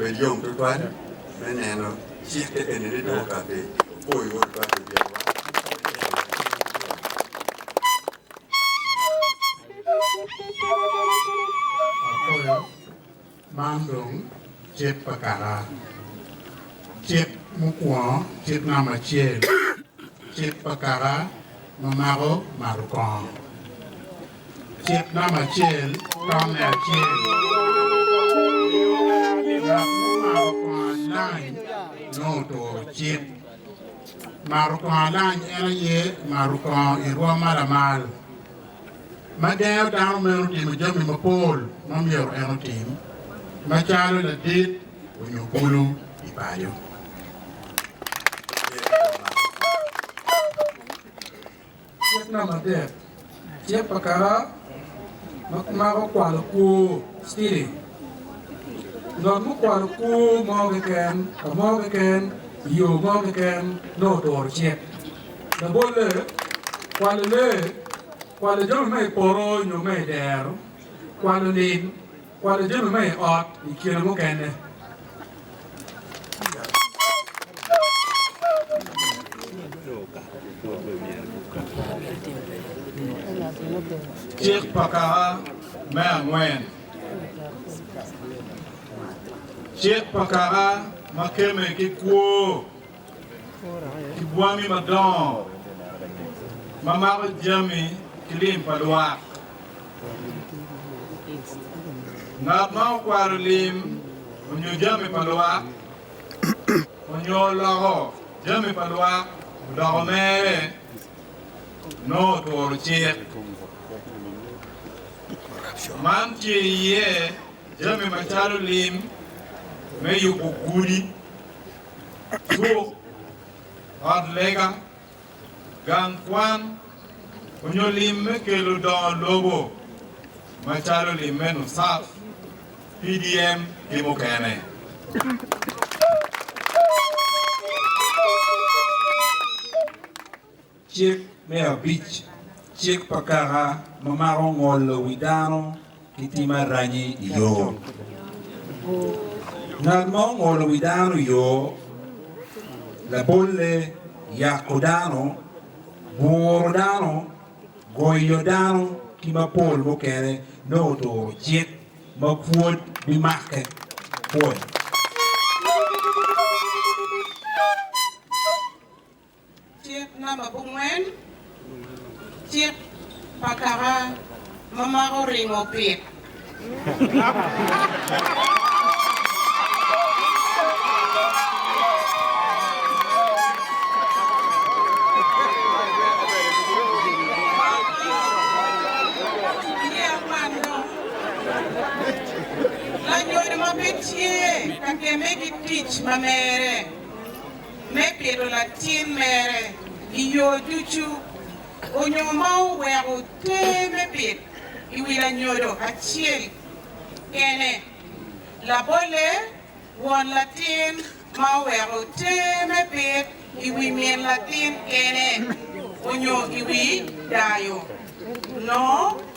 Bed yom tutwal me neno cik kekeni ni dong okati opo iwor otwal pi byelwa. Akoyo, man dong cik pa kaka, cik mukwongo, cik namba acel, cik pa kaka ma mako mato kongo. Cik namba acel tamme acel miyo en ni ngat mumato kwongo alany nongo oturo cik. Mato kwongo alany en aye mato kwongo i rwom ma lamal, ma gengo dano meno timo jami mapol ma myero en otim, macalo ladit onyo bulu i paco. Cik namba adek, Cik pa kara ma kimako kwalo kwo, stealing. Ngat mukwalo kwo mo keken ka mo keken i yo mo keken nongo oturo cik. Labolle, kwalo lee, kwalo jami ma i poto nyo ma i dero, kwalo lim, Kwano jami ma i ot i kine mukene. Cik pa Kaka me Angwen. Cik pa Kaka ma kemme ki kwo. ki bwangi madongo ma mako jami ki lim pa lwak. Ngat ma okwalo lim onyo jami pa lwak onyo oloko jami pa lwak odoko mere nongo oturo cik. Man tye iye jami macalo lim me yubo gudi cuk, ot lega, gang kwan, onyo lim me kelo dongo lobo macalo lim me NUSAF, PDM ki mukene. Cik me abic, Cik pa kaka ma mako ngolo wi dano ki tim aranyi i yo. Ngat ma ongolo wi dano i yo labolle yako dano, buro dano, goyo dano ki mapol mukene nongo turo cik ma pwod bimakke pwony. Cik namba bungwen, cik pa kaka ma mako ringo pit. Lanyodo ma pe tye ka gemme ki tic ma mere. me pito latin mere i yo ducu onyo ma oweko te me pit i wi lanyodo acel kene. Labolle, won latin ma oweko te me pit i wi min latin kene onyo i wi dayo no,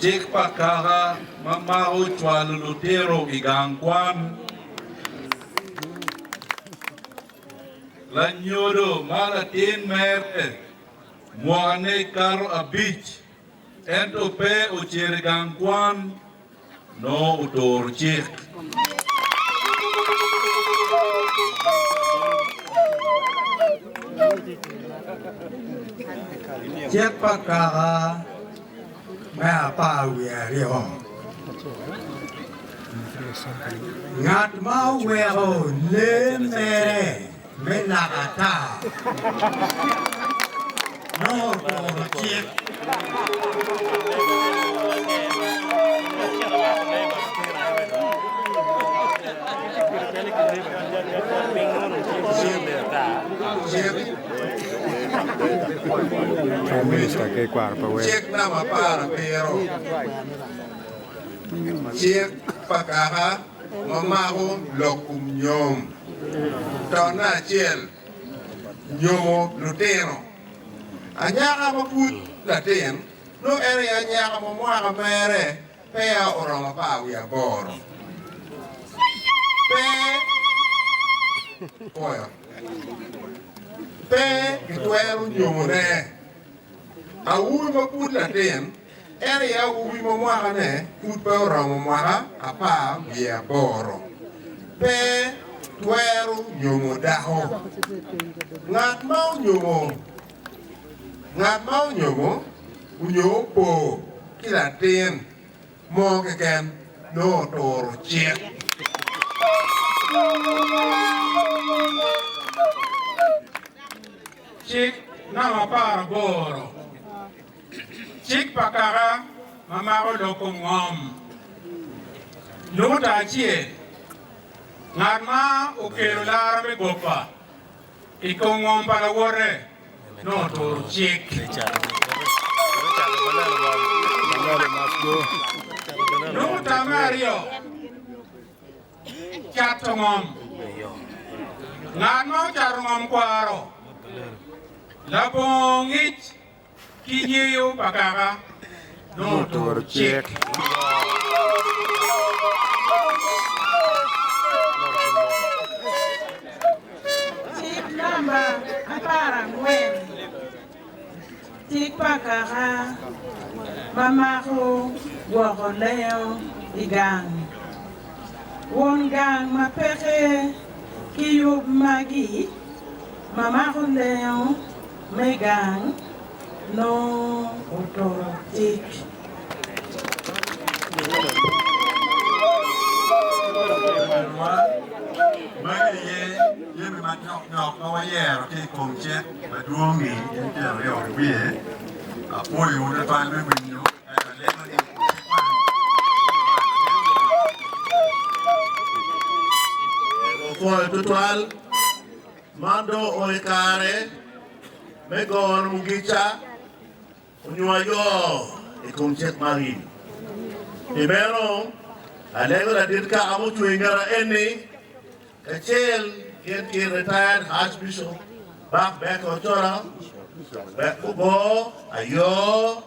Cik pa kaka ma mako cwalo lutino i gang kwan. Lanyodo ma latin mere mwakane kato abic ento pe ocito i gang kwan nongo oturo cik Cik pa kaka me apar wiye aryo Ngat ma oweko lee mere me naka ata nongo oturo cik. Cik namba apar abiro, cik pa kaka ma mako lok kum nyom. To me acel, nyomo lutino. Anyaka ma pud latin, nongo en aye anyaka ma mwaka mere peya oromo apar wiye aboro, pe pwoyo, pe kitwero nyomone. Aur ma pud latin. En aye awobi ma mwakane pud pe oromo mwaka apar wiye aboro. Pe twero nyomo dako. Ngat ma onyomo, ngat ma onyomo onyo opo ki latin mo keken nongo oturo cik. Cik namba apar aboro. Cik pa kaka ma mako loko ngom. Nyuta acel, Ngat ma okelo lara me gopa i kom ngom pa lawote nongo oturo cik. Nyuta me aryo, Cato ngom. Ngat ma ocato ngom kwaro labongo ngic. ki nyeyo pa Kaka dong oturo cik. Cik namba apar angwen, Cik pa Kaka ma mako gwoko lengo i gang. Won gang ma peke ki yub magi ma mako lengo, me gang nongo oturo cik. Magi aye jami madok dok ma wayero ki i kom cik madwong-ngi, gin tyen aryo i wiye. Apwoyowu twatwal me winyo ento alego ni i kom cik man wubal lutino. Man dong onongo i kare me goro mugica onyo ayo i kom cik magi. Pi meno, alego ladit kaka mucung i ngeta eni, kacel gin ki Retired Archbishop Buck Becker Ochola wek gugor ayo.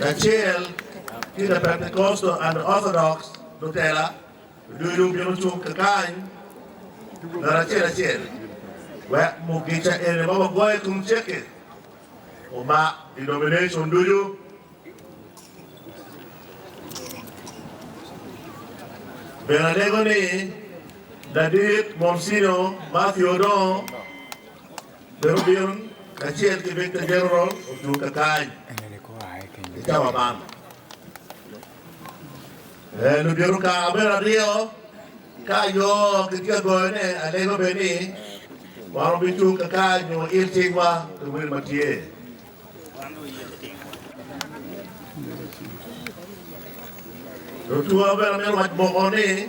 Kacel ki the Pentecostal and the Orthodox, lutela ducu bino cung kakany ngat acel acel wek mugica eni ma wagoyo i kom cek-ki omak denomination ducu. Bene alego ni ladit Monsignor Matthew Odong. Bed obino kacel ki Victor General ocung ka kany i cawa man. Ee, lubito ka abedo aryo ka ayo kitye ka goyone alego bed ni wan wubicung ka kany nyo il tingwa pi wil ma tye. Lutuwa bene amito waco moko ni.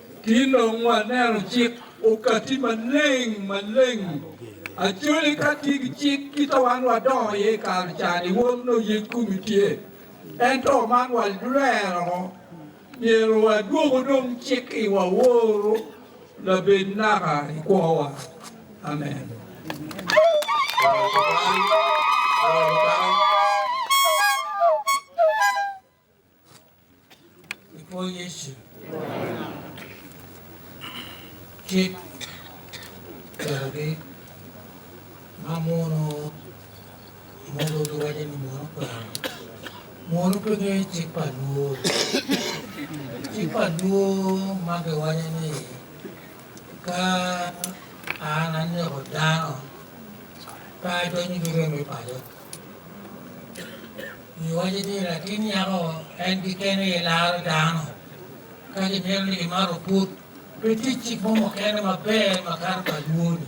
Ki dong waneno cik okati maleng maleng acoli ka tye ki cik kita wan wadongo iye i kare cani wun nongo yec komi tye ento man walwero myero wadwoku dong cik i wa woro labed naka i kwowa amen. I kwo Yecu. Cik okelogi ma muno mogo giwaco ni muno kwero. Muno pe gengo cik pa lwor. Cik pa lwor ma giwaco ni ka an aneko dano pe adonyo ki rem me paco. Giwaco ni latin nyako en keken aye laro dano. Ka gimito ni gimar oput, pe tye cik mo mukene maber makato pa lwor-ni.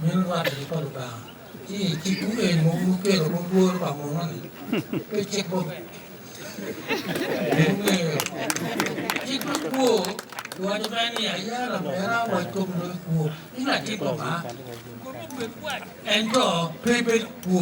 Meno rwatte cik pa Lubanga. Ci i cikwu eni ma wun wukelo woko lworo pa muno-ni, pe cik mo mene. Pien wungeyo cik me kwo giwaco mere ni, Aya lamera, wac kom loyo kwo, in latit Lubanga. Ento pe ibed kwo.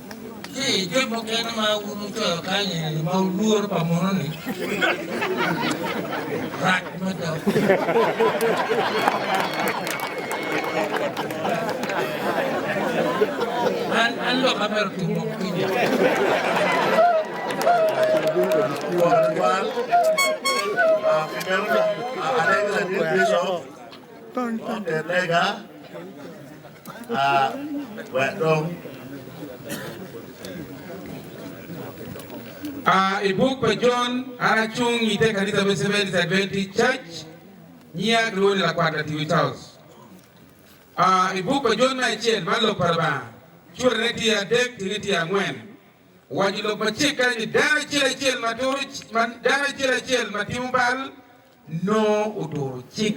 Ci jo mukene ma gucwero kany eni ma olworo pa mono ni rac mada. An an lok amero tumo kinya. Alegra Bishop, Lega. I buk pa Jon, an acung i te kanisa me Seventh Adventist Church, nyiya kilwongo ni Lakwat Latiwi Charles. I buk pa Jon me acel, man Lok pa Lubanga, curane tye adek tinge tye angwen. Owaco i lok ma cek kany ni dano acel acel ma timo bal, nongo oturo cik.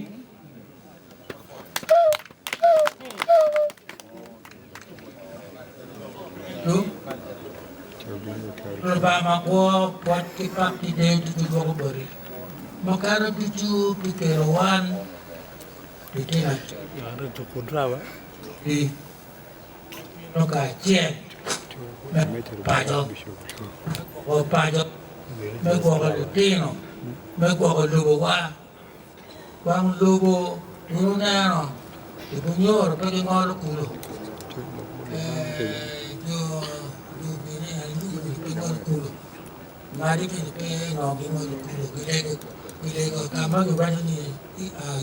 Lubanga ma kwo, pwoc ki pak ki deyo ducu dwoko boti makato ducu pi kelo wan pi kine-ni. bino kacel me paco, me paco, me gwoko litino, me gwoko lobowa. Wang lobo dong wuneno i Bunyoro pe gingolo kulu, jo Lubini aye gingolo kulu, Madi bene pe nongo gingolo kulu, gilego ka ma giwaco ni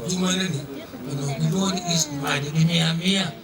jami magi-ni onongo gilwongo ni East Madi gimiyo amiya.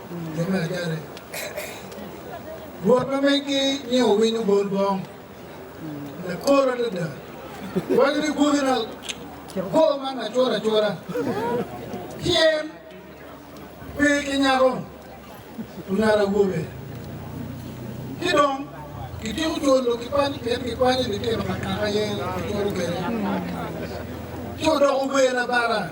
Jo me ajare, Rwot ma megi ni owinyo bol bong lakor adada waco ni gwoki na kor man macur acura pien pe ki nyako onaro awobe ki dong kityeko cwolo ki pany pien gikwanyo litino ka kaka aye kicwalo kwede ci odoko wer abara.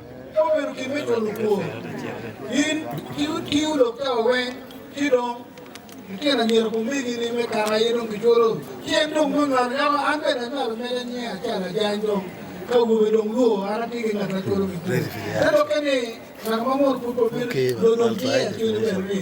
Ka obedo gin me nywalo kwor, in ki otwiwu lok cawa weng, ci dong lityen anyira pa omegini me kare aye dong gicwolo cen dong me nywalo. Yako an bene anywalo mere nyen acalo ajany dong, ka awobe dong lwo, an atye ki ngat ma cwolo me kwor. Te dokke ni ngat ma mot pud pe obino, dong dong tye acwele bene ni.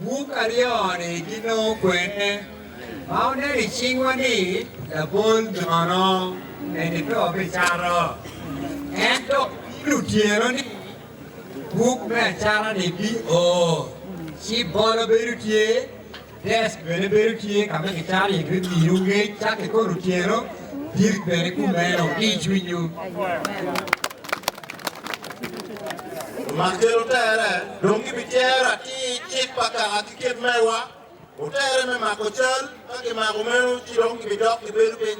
Buk aryo-ni ginongo kwene ma oneno i cingwa ni labol jono me nibedo pi cato. Ento piny otyeno ni buk me acata-ni bio, ci bolo bedo tye, desk bene bedo tye ka ma kicato iye me miyowu ngec caka ki kono otyeno, bit bene kumeno ki i cwinywu. Man kelo tere, dong gibicero atir cik pa kaka ki kit mewa otere me mako cal, ka kimako meno ci dong gibidok gibedo piny.